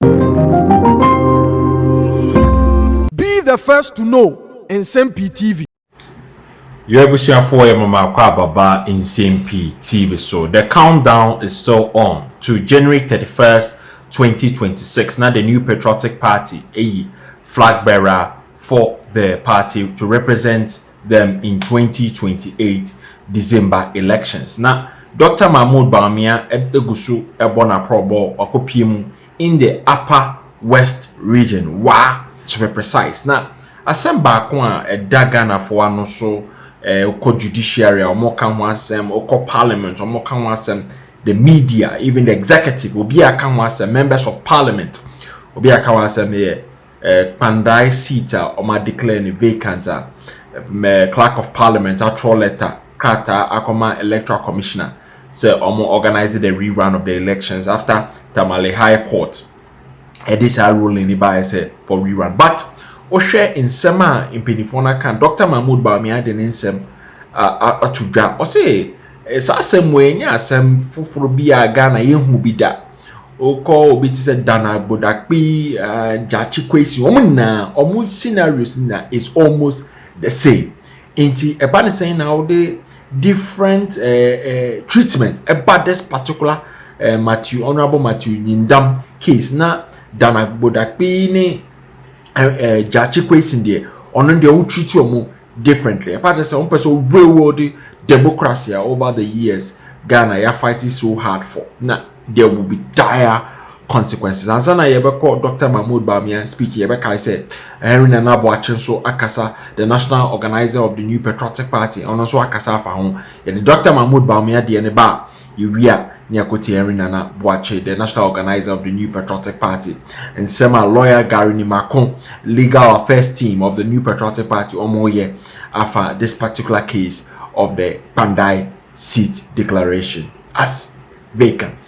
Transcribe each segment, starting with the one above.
Be the first to know Nsɛm Pii TV. Yo abusuafoɔ yɛ mo maako ababa Nsɛm Pii TV so. The countdown is still on to January thirty first, twenty twenty six na the New Patriotic Party ayi flag bearer for the party to represent them in twenty twenty eight December elections na Doctor Mahmoud Bawumia gu so bɔ n'aprɔbɔ wakɔpue mu in the Upper West region, Wa, to be precise. Na asɛm baako a ɛda Ghanafoɔ ano so eh, wokɔ judiciary a wɔka ho asɛm, wokɔ parliament wɔka ho asɛm, the media, even the executive, obi a ka ho asɛm, members of parliament, obi a ka ho asɛm yɛ eh, Kpandai seat a wɔn declare no vacant a, mɛ clerk of parliament atwerɛ letter krataa akɔma electoral commissioner sɛ wɔn organize the rerun of the elections after Tamale High Court ɛde saa ruling no baeɛ sɛ for rerun but wohwɛ nsɛm a mpanimfoɔ no aka Dr. Mahmoud Bawumia de ne nsɛm ato dwa ɔse Saa asɛm wei nyɛ asɛm foforɔ bi a Ghana yɛhu bi da. Wokɔ obi te sɛ Dan Agbodakpi, uh, Gyakye Kwesi, wɔn nyinaa, wɔn scenarios nyinaa is almost the same. Nti ɛba ne sɛn na wode different uh, uh, treatment ɛba this particular uh, Matthew, Honorable Matthew Nyindam case na Dan Agbodakpi ne uh, uh, Gyakye Kwesi deɛ, ɔno deɛ wotreat wɔn differently ɛpa kyerɛ sɛ wɔn pɛ sɛ real world democracy a over the years Ghana yɛ fight so hard for na there will be dire consequences ansa na yɛbɛkɔ Dr. Mahmoud Bawumia speech yɛbɛkae sɛ Henry Nana Boakye nso akasa the national organizer of the new patriotic party ɔno nso akasa afa ho Yɛde Dɔkta Mahmoud Bawumia deɛ no ba a, yɛwie a, na yɛakɔ tie Henry Nana Boakye, the national organiser of the New Patriotic Party, nsɛm a lawyer Gary Nimako, legal affairs team of the New Patriotic Party, wɔn reyɛ afa this particular case of the Kpandai seat declaration as vacant.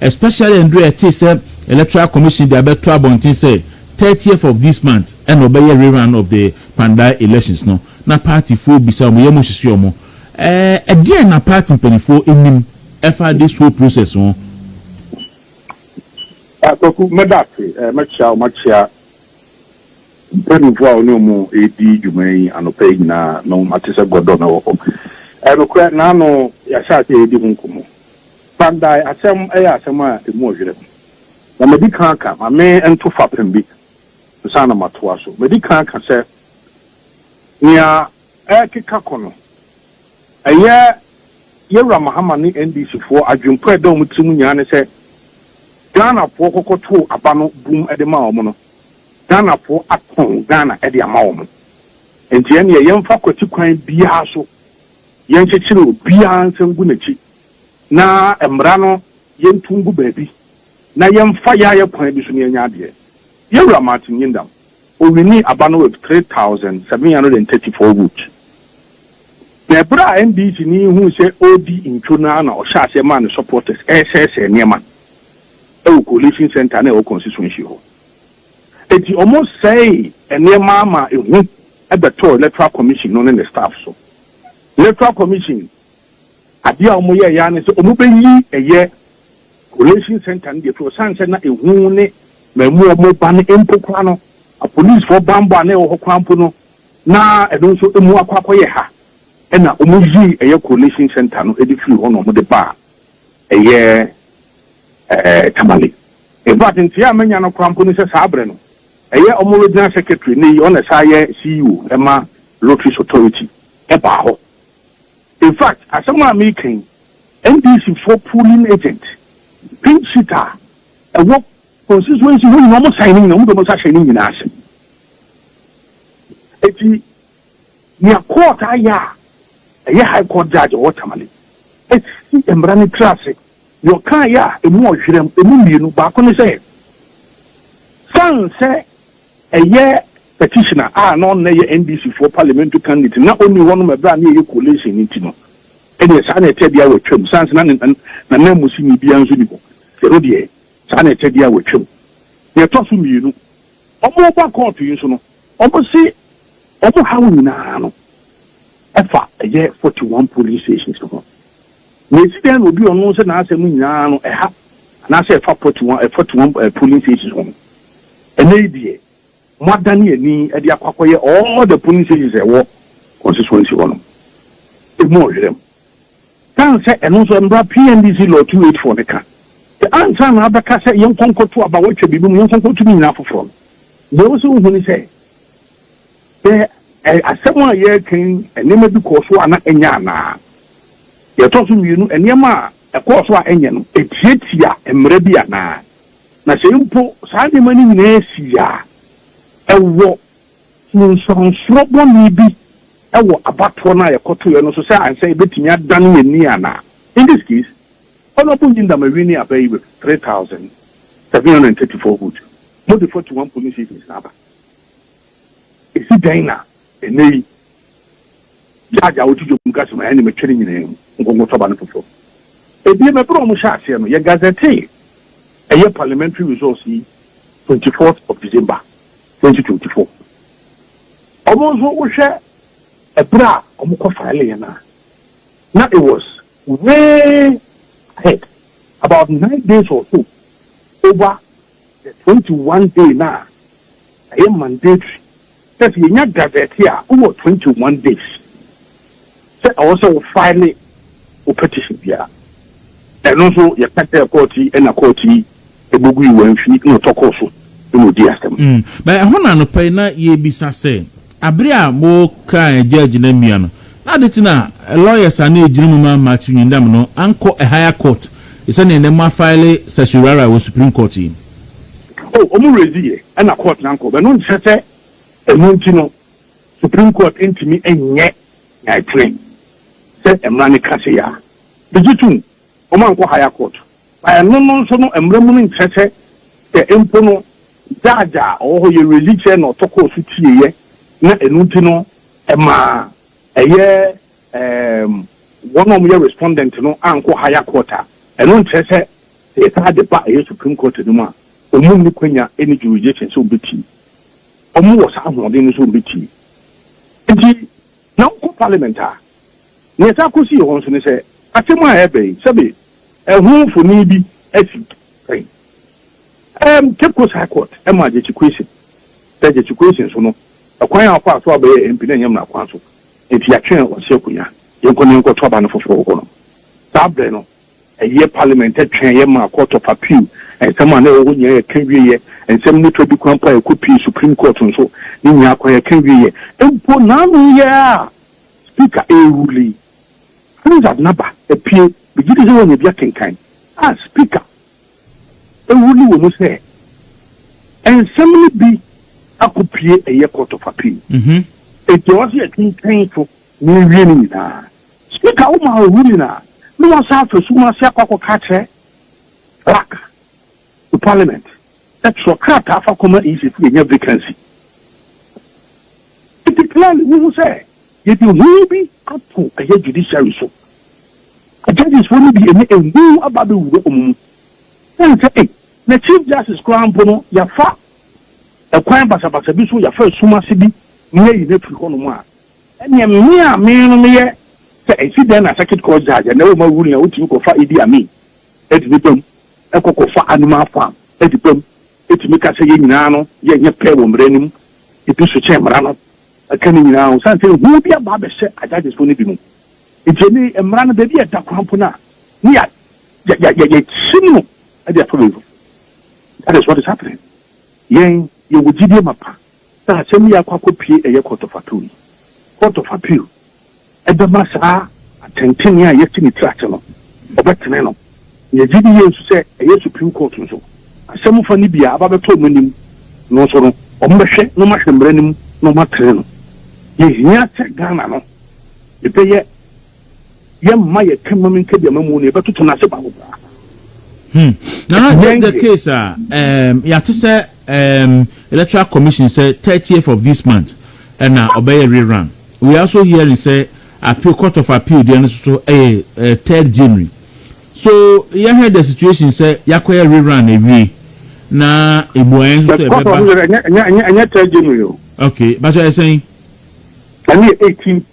Especially ɛndu a yɛtee sɛ Electoral Commission de abɛto abɔnten sɛ thirtieth of this month ɛna ɔbɛyɛ rerun of the Kpandai elections no na partyfoɔ bisa wɔn yam sisi wɔn. Ɛɛ ɛdeɛn na party mpaninfoɔ nim ɛfa this whole process ho? Ah Kwaku, mɛda ase. Ɛɛ mɛkyea wo, makyea mpaninfoɔ a wo ne wɔn redi dwuma yi anɔpa yi nyinaa no, mate sɛ gɔdɔ na ɛwɔ hɔ. Ɛɛ nokorɛ, naano yɛahyɛ aseɛ redi ho nkɔmmɔ. Kpandae asɛm yɛ asɛm a ɛmu ɔyerɛ. Ma medi kan aka, ma me nto fapem bi ansa na matoa so. Medi kan aka sɛ, nea ɛrekeka kɔ no, ɛyɛ Yawura Mahama ne NDCfoɔ adwempɔ a ɛda wɔn tirim nyinaa ne sɛ Ghanafoɔ kɔkɔtoo aba no bum de maa wɔn no, Ghanafoɔ atɔn Ghana de ama wɔn. Enti ɛnneɛ yɛmfa kwati kwan biara so, yɛnkyekyere obiara nsa ngu n'akyi. na mmara no yɛnto ngu baabi na yɛmfa yɛayɛ kwan bi so na yɛanya adeɛ. Yɛn Wura Martin Yindam, ɔwinii aba no with 3734 votes. Na ɛberɛ a NDC ni yi huu sɛ ɔredi ntwo no ara na ɔhyɛɛ aseɛ maa ne supporters resɛesɛe nneɛma wɔ Coalition Centre no a ɛwɔ constituency hɔ. Enti wɔsɛee nneɛma ma ehu bɛtɔɔ Electoral Commission no ne ne staff so. Electoral Commission Adeɛ a wɔn yɛɛyɛ ara ne sɛ wɔn bɛ yi ɛyɛ collation center no de afiri hɔ sane sɛ na ehu ne mamu wɔn ba no mpo koraa no apolicefoɔ banbɔ a na ɛwɔ hɔ koraa mpo no na ɛno nso emu akɔ akɔ yɛ ha ɛna wɔn yii ɛyɛ collation center no de firi hɔ na wɔn de baa ɛyɛ ɛɛ Tamale in fact nteɛ a manya no koraa mpo ne sɛ saa berɛ no ɛyɛ wɔn regional secretary ne yi ɔna saa yɛ CEO ɛma lotteries authority ɛbaa hɔ. In fact, asɛm a mereka yi, NDC foɔ polling agent, pink sheet a ɛwɔ constituency hɔ nyinaa, wɔn sign ne nyinaa, wɔn de wɔn nsa hyɛ ne nyinaa ase. Eti, nea court ayɛ a ɛyɛ high court judge a ɔwɔ Tamale asi mmara no tiri ase, nea ɔkaeɛ a emu ɔhwerɛm, emu mmienu, baako ne sɛ, san sɛ, Ɛyɛ petitioner a na ɔno na ɛyɛ NDC foɔ parliamentary candidate na ɔnni hɔ no ma ɛberɛ a na yɛyɛ coalition no nti no ɛdeɛ saa na ɛtɛ deɛ a watwam sane sɛ na ne nananmusini biara nso nni hɔ ɛno deɛ saa na ɛtɛ deɛ a watwam. Deɛ ɛtɔ so mmienu wɔn reba court yi nso no wɔn se wɔn haw nyinaa no ɛfa ɛyɛ forty one polling stations no ho. Na esi dɛn na obi a ɔno sɛ n'asɛm nyinaa no ɛha anaasɛ ɛfa pɔtu wɔn ɛfatu wɔn ɛɛ polling stations ho no? Ɛnnɛ yi deɛ, moadane ani de akɔ akɔyɛ all the polling stations a ɛwɔ constituency hɔ no emu ɔhwerɛm. San sɛ ɛno nso mmra PNDC law two eight four no ka sɛ ansa na abɛka sɛ yɛnkɔ nkɔto aba wɔatwa biribi mu yɛnkɔ nkɔto ne nyinaa foforɔ no, deɛ ɛwɔ sɛ wohu ne sɛ, Sɛ asɛm a yɛreka yi nneɛma bi kɔɔ so a na ɛnyɛ anaa? Deɛ ɛtɔ so mmienu, nneɛma a ɛkɔɔ so a ɛnyɛ no, ɛtiatia mmara bi anaa? Na sɛ mpo saa nneɛma no nyinaa sii a, ɛwɔ nsunsuansoɔ bɔne bi wɔ abatoɔ no a yɛkɔtoeɛ no so sɛ ankyɛ yɛbɛtumi adane yɛn ani anaa? In this case, Honourable Nyindama winning Abayi with three thousand seven hundred and thirty four votes, mode forty one polling stations na aba. Esi dɛn na nnɛyi judge a woto dwom ka sɛ mayɛ nea matwa ne nyinaa mu, nkɔnkɔtɔ aba no foforo? Ebiem, bere a wɔhyɛɛ aseɛ no, yɛgazetee ɛyɛ parliamentary results yi twenty fourth of December, twenty twenty four. Wɔn nso wohwɛ ɛbere a wɔn kɔ fileeɛ no a, na it was way ahead, about nine days or so over The twenty one day no a ɛyɛ mandatory sɛ sɛ yɛnya gazette a wowɔ twenty one days sɛ ɛwɔ sɛ wo file wo petition biara. Ɛno nso yɛka kyerɛɛ court yi ɛna court yi bogui wɔanfi na ɔtɔ kɔɔ so na ɔdii asɛm. Mm, na ɛhɔ na anɔpa yi na yɛrebisa sɛ. Bere a wɔkaa agya gyina mmea no, na ade kye no a, lawyers a na egyina mu ma Matthew Nyindam no ankɔ higher court te sɛ nea nnɛ moafaele certiorari wɔ Supreme Court yi. Oh, wɔn raise yɛ ɛna court no ankɔ, ɛno nkyerɛ sɛ ɛno nti no Supreme Court ntumi nyɛ nea ɛtene sɛ mmara no ka sei a. Megye tom, wɔankɔ higher court. Na ɛno no nso no mmra mu no nkyerɛ sɛ sɛ mpo no Judge a ɔwɔ hɔ yɛ ready kyerɛ na ɔtɔ kɔɔ so tieeɛ na ɛno nti no ɛma ɛyɛ ɛɛm wɔn a wɔyɛ respondent no ankɔ higher court a, ɛno nkyerɛ sɛ sɛ yɛtaa de ba ɛyɛ Supreme Court no mu a wɔn nni kwanya ɛnni jurisdiction sɛ wɔbɛtie. Wɔn wɔ saa ahoɔden no sɛ wɔbɛtie. Nti Na wokɔ Parliament a, nea ɛtaa kɔ si hɔ nso ne sɛ asɛm a ɛreba yi, sɛbe ɛho mfoni bi asi pɛn. Ɛɛm, Cape Coast High Court maa Gyekye Quayson sɛ Gyekye Quayson so no, ɛkwan a ɔfaa so a ɔbɛyɛɛ MP no ɛnyɛ mmara kwan so, enti yɛatwe ɔse akonnwa. Yɛnkɔ na yɛnkɔto aba no foforo hɔ no. Saa berɛ no, Ɛyɛ Parliament twɛn'eɛ maa Court of Appeal nsɛm a na ɛwɔ hɔ nyinaa yɛ ka wieɛ, nsɛm no twa di kwan mpo a ɛkɔ pii Supreme Court nso, ne nyinaa kwan yɛ ka wieɛ. Mpo n'ano yɛ a Speaker ɛrerule yi, Hansard n'aba apue, megye di sɛ woanya bi akenkan, a Speaker ɛrule wɔ mu sɛ nsɛm no bi akɔ pue ɛyɛ Court of Appeal. Enti ɛwɔ sɛ yɛkenkan so na yɛwie ne nyinaa. Speaker wo ma ohu nyinaa na wa san afa sum ase akɔ akɔ ka akyerɛ clerk wo parliament sɛ twerɛ krataa fa kɔ ma EC fo yɛ nya vacancy nti clearly wo hu sɛ yɛ de hu bi ato ɛyɛ judiciary so na judges fo no bi ɛnɛ ɛhu aba bɛ wura ɔmo mu sɛn sɛ ei na chief justice koraa mpo no yɛ fa ɛkwan basabasa bi so yɛ fa sum ase bi ne ayi no afiri hɔ nom a Ɛnneɛ me a me no meyɛ sɛ ɛsi dɛn na circuit court judge a na ɛwɔ ma ruling a wotumi kɔ fa Idi Amin de ne bam kɔ kɔ fa Anuma farm de bam tumi ka sɛ yɛn nyinaa no yɛ nyɛ pɛ wɔ mmara no mu ebi so kyɛn mmara no ɛka ne nyinaa ho sane sɛ ehu bi aba abɛhyɛ a judges foɔ no bi mu nti ɛne mmara no baabi a ɛda koraa mpo no a ne yɛ yɛ yɛ yɛ yɛ kyim no ɛde afa baabi that is what is happening yɛn yɛwɔ gyidie mapa Sɛ asɛm yi akɔ akɔpue ɛyɛ court of appeal yi, court of appeal bɛma saa atɛntrenee a yɛasi ne tiri ase no, wɔbɛtene no. Na yɛgye di yie nso sɛ ɛyɛ Supreme Court nso, asɛm fa no bi a aba abɛtɔ wɔn anim no nso no, wɔbɛhwɛ na wɔahwɛ mmara no mu na wɔatene no. Yɛhia sɛ Ghana no, yɛbɛyɛ. Yɛmma yɛn kamam nkabiama mu no, yɛbɛtoto no ase baako koraa. Hmm. Nana, Ɛnyɛ just the nyeɛ. case a um, yɛate sɛ um, electoral commission sɛ 30th of this month ɛna ɔbɛyɛ rerun. We are also hearing sɛ appeal court of appeal deɛ no soso ɛyɛ uh, 3rd January. So yɛhwɛ the situation sɛ yɛakɔyɛ rerun awie na mmuaeɛ nso But sɛ court of ɛbɛba. appeal, ɛnyɛ- ɛnyɛ- ɛnyɛ- ɛnyɛ third January o. Okay, but ɛsɛn. Ɛno yɛ 18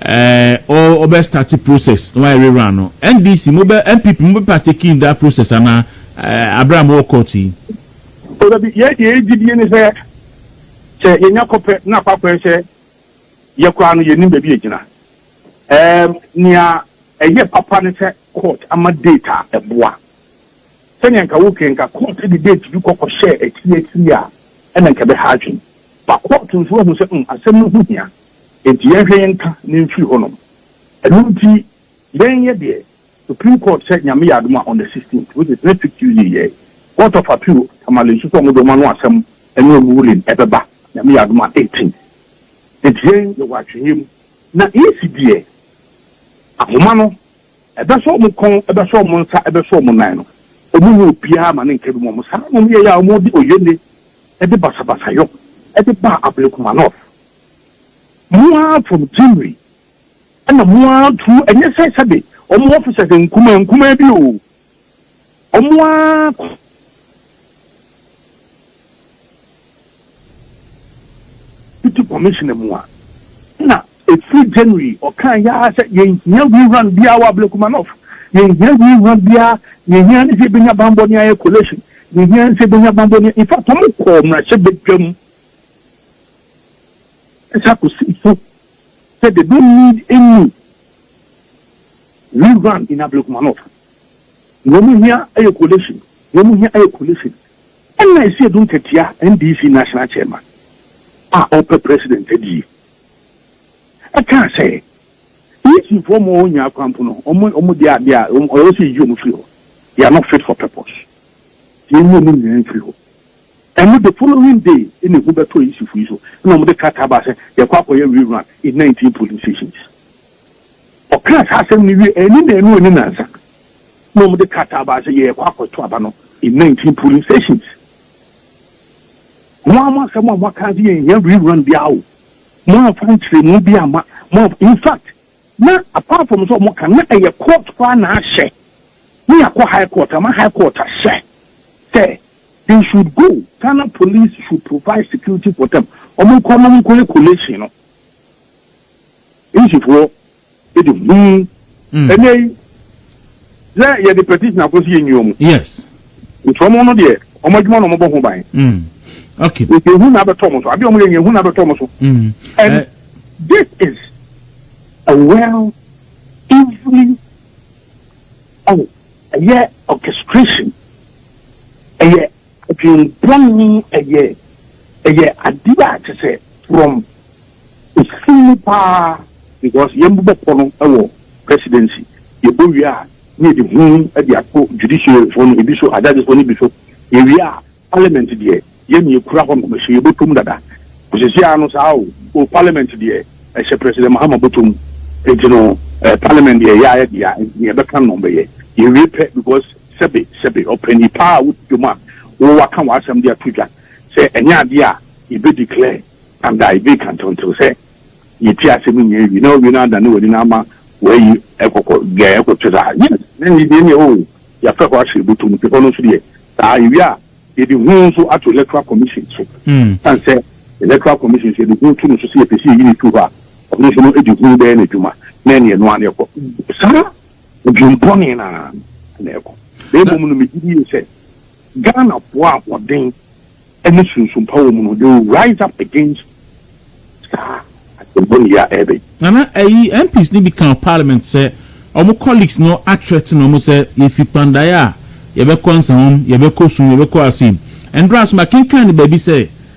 Ɛɛ ɔɔ ɔbɛ starte process na wayɛ re run no NDC mo bɛ NPP mo bɛ partake in that process anaa ɛɛ abrɛ a mo wɔ court yi. O da bi yɛ deɛ yɛ gye die ne sɛ sɛ yɛ nya kɔ pɛ na akɔ akɔ yɛ sɛ yɛ koraa no yɛ nim baabi yɛ gyina ɛɛm nea ɛyɛ papa ne sɛ court ama date a ɛboa sɛnea nka wo kɛ nka court de date bi kɔ kɔ hyɛ akyiri akyiri a ɛna nka bɛ ha adwene ba court nso ahu sɛ mm asɛm no ho hia Enti yɛnhwɛ yɛn nka na ɛmfiri hɔ nom. Ɛno nti yɛn yɛ deɛ Supreme Court sɛ Nyame yɛ adom a on the 16th which is next week Tuesday yɛ Court of Appeal Tamale nso sɛ wɔn deɛ wɔn ano asɛm ɛne wɔn ruling ɛbɛba Nyame yɛ adom a 18 Enti yɛn yɛwɔ atweneɛ mu na EC deɛ ahoma no ɛbɛsɔ wɔn kɔn ɛbɛsɔ wɔn nsa ɛbɛsɔ wɔn nan no wɔn nyɛ obiara ma ne nka bi mu wɔn saa na wɔn yɛɛ a wɔn de oye nne ɛde basabasayɔ ɛde baa Ablekuma North. Mo ara from Gyimri ɛna mo ara true ɛnyɛ sɛ sɛbe wɔn officers nkumaa nkumaa bi oo wɔn ara deputy commissioner mu a na ɛfiri January ɔkaa yaa sɛ yɛnhia rerun biara wɔ Ablekumanɔf yɛnhia rerun biara yɛhia ne sɛ yɛbɛnya bambɔ ne ayɛ collation yɛhia ne sɛ yɛbɛnya bambɔ ne in fact wɔn kɔɔ mmarahyɛ badwam Ɛhyɛ akɔsifo sɛ they don't need any rerun in Ablekuma North. Nea wɔn hia yɛ coalition, nea wɔn hia yɛ coalition. Ɛna ɛsi Adu Nkɛtea NDC National Chairman a ɔpɛ President adi yi ɛkaa sɛ DC foɔ ma wɔn nyaa kwan mpo no wɔn wɔn deɛ adeɛ a wɔn ɔyɛ sɛ yiyi wɔn firi hɔ. They are not fit for purpose. Yɛn yi wɔn nyinaa mfiri hɔ. Ɛno the following day na ehu bɛtɔɔ Yisifo yi so na wɔde krataa baa sɛ yɛkɔ akɔyɛ rerun in nineteen polling stations. Ɔkaa saa asɛm no wiei anni naanu anni nansa na wɔde krataa baa sɛ yɛrekɔ akɔto aba no in nineteen polling stations. Mo ara mo asɛm a moaka sɛ yɛnhia rerun biara o, moamfa nkyerɛmu bi amma, moamfa, in fact na apart from sɛ wɔka na ɛyɛ court koraa na ahyɛ ne yɛakɔ high court ama high court ahyɛ sɛ they should go Ghana police should provide security for them wɔn nkɔ na wɔn nkɔyɛ collation no English foɔ ɛde huu ɛnɛ yi. sɛ yɛde petition akɔ so yɛnni wɔn. yes. nti wɔn no deɛ wɔn adwuma na wɔbɔ ho ban. Mm. okay. nti ehu na abɛtɔ wɔn so adeɛ wɔn yɛ nyɛ ehu na abɛtɔ wɔn so. Mm. and uh, this is a well evenly oh ɛyɛ orchestration ɛyɛ Dwen bɔn yi ɛyɛ ɛyɛ adeɛ a kyesɛ from ɛfiri mu paa because yɛn bobɔ pɔ no ɛwɔ presidency yɛ bɔ wie a na yɛde hu ɛde ato judiciary foɔ no ebi so ajudges foɔ no bi so yɛ wie a parliament deɛ yɛn yɛ kura hɔ nom ɛhyɛ yɛ bɔ tom dada ɔsisi ano saa o o parliament deɛ ɛhyɛ president mahama bɔ tom nti no parliament deɛ yɛ ayɛ deɛ nti yɛ bɛka nom bɛyɛ yɛ wie pɛ because Sɛbe, sɛbe, ɔpɛ nnipa a wodi dwom a wɔwɔ aka w'asɛm de ato dwa, sɛ ɛnyɛ adeɛ a yɛbɛ declare and a yɛbɛ kantantew sɛ yɛtie asɛm nyinaa awie na wawie no adane w'ani na ama w'ayi ɛkɔkɔ deɛ ɛkɔ kyɛ saa yes na ɛnni deɛ neɛ oo yɛafɛ hɔ ahyɛ bɛtom no pepɔ no nso deɛ saa yɛwie a yɛde ho nso ato electoral commission so san sɛ electoral commission nso yɛde ho to no so sɛ yɛpɛ sɛ yɛyi ne tu hɔ a ɔno nso no ɛde ho bɛyɛ no adwuma na ɛneɛ no a ne ɛkɔ saa Dwempɔne no ara na ɛkɔ. Na mmom no, megye die sɛ Ghanafoɔ a wɔden ne sunsumpa wɔ mu no, they will rise up against saa adwempɔne yi a ɛreba. Nana, ɛyi MPs no bi ka wɔ parliament sɛ wɔn colleagues no athreaten wɔn sɛ yɛfi Kpandaeɛ a yɛbɛkɔ Nsawam, yɛbɛkɔ Sum, yɛbɛkɔ Assin. Ɛndora nso makenkan no baabi sɛ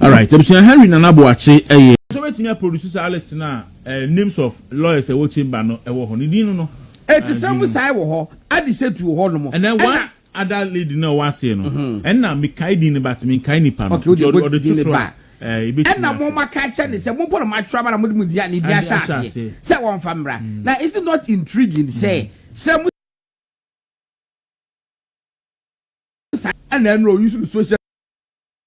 Alright abusua Henry Nana Boakye ɛyɛ. Sɛ obetumi a produce saa list no a ɛɛ names of lawyers a ɛwɔ chamber no ɛwɔ hɔ no din no no ɛɛ din no. Ɛtisɛm sae wɔ hɔ Adisatu wɔ hɔ nom ɛna. Ɛna one other lady no a ɔwɔ aseɛ no ɛna mekae din no but menkae nipa no nti ɔde ɔde to so a ɛɛ yɛbetumi ahwɛ. Ɛna mo ma ka kyɛ ne sɛ mo bɔ no mo atwerɛ aba na mo de mo din a ne din ahyɛ aseɛ sɛ wɔn fa mmra na is it not intriguing sɛ sɛ mo sae ɛna ɛna ɔuse no social.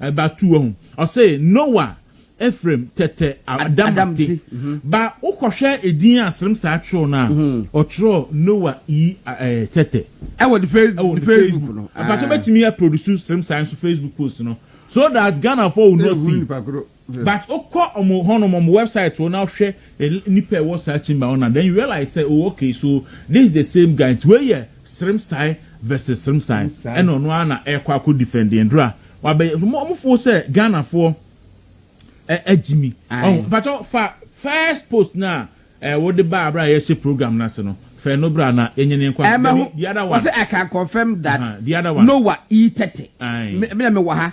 ɛba tu wahu ɔse nowa efrem tɛtɛ adamate ba wokɔhwɛ edin a serem saa twerɛw no a ɔtwerɛ nowa i tɛtɛ ɛwɔ ne facebook no mpakyɛ mɛtumi a produce serem saa nso facebook post no so that ghana foɔ will not see. But wo kɔ ɔmo hɔ nom ɔmo website hɔ na wo hwɛ nipa ɛwɔ saa chamber hɔ na then you realize sɛ oh okay so this is the same guy nti wei yɛ Srimsai versus Srimsai ɛna ɔno ara na ɛkɔ akɔ defend yɛn dura wabɛ ɔmo fo sɛ Ghana foɔ ɛ agyi mi ɔho mpakyɛw fa first post na ɛ wo de ba abira a yɛhyɛ program n'ase no fɛ no bira na yɛnyɛ ne nkɔ ɛmɛ ho the other one wɔsɛ I can confirm that the other one Noah E thirty ɛɛ mi na mi wɔ ha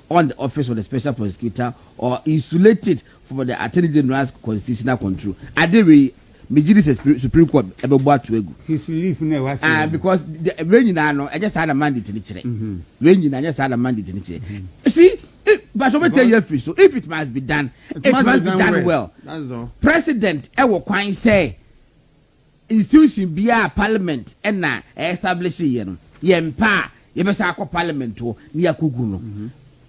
on the office of the special prosecutor or insulate it from the attorney general's constitutional control. Ade wei, megye di sɛ Supreme Court ɛbɛbɔ ato agu. His relief na ɛwɔ ase. Ah, because wei nyinaa no, ɛnyɛ saa na mandate no kyerɛ. Mm-hmm. Wei nyinaa ɛnyɛ saa na mandate no kyerɛ. Mm-hmm. See, but wɔn bɛtɛ yɛ firi so, if it must be done, it, it must, must be done, done well. President ɛwɔ kwan sɛ. Institution biara a parliament na ɛ establish yɛ no, yɛ mpɛ a yɛbɛsan akɔ parliament hɔ na yɛakɔgu no.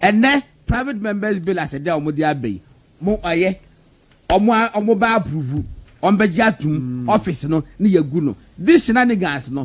Ɛnnɛ private members bill as ɛdɛ a wɔn de aba yi, mo ɔyɛ, wɔn a wɔn bɛ approve, wɔn bɛgye atom, office no na yɛagu no. This shenanigans no,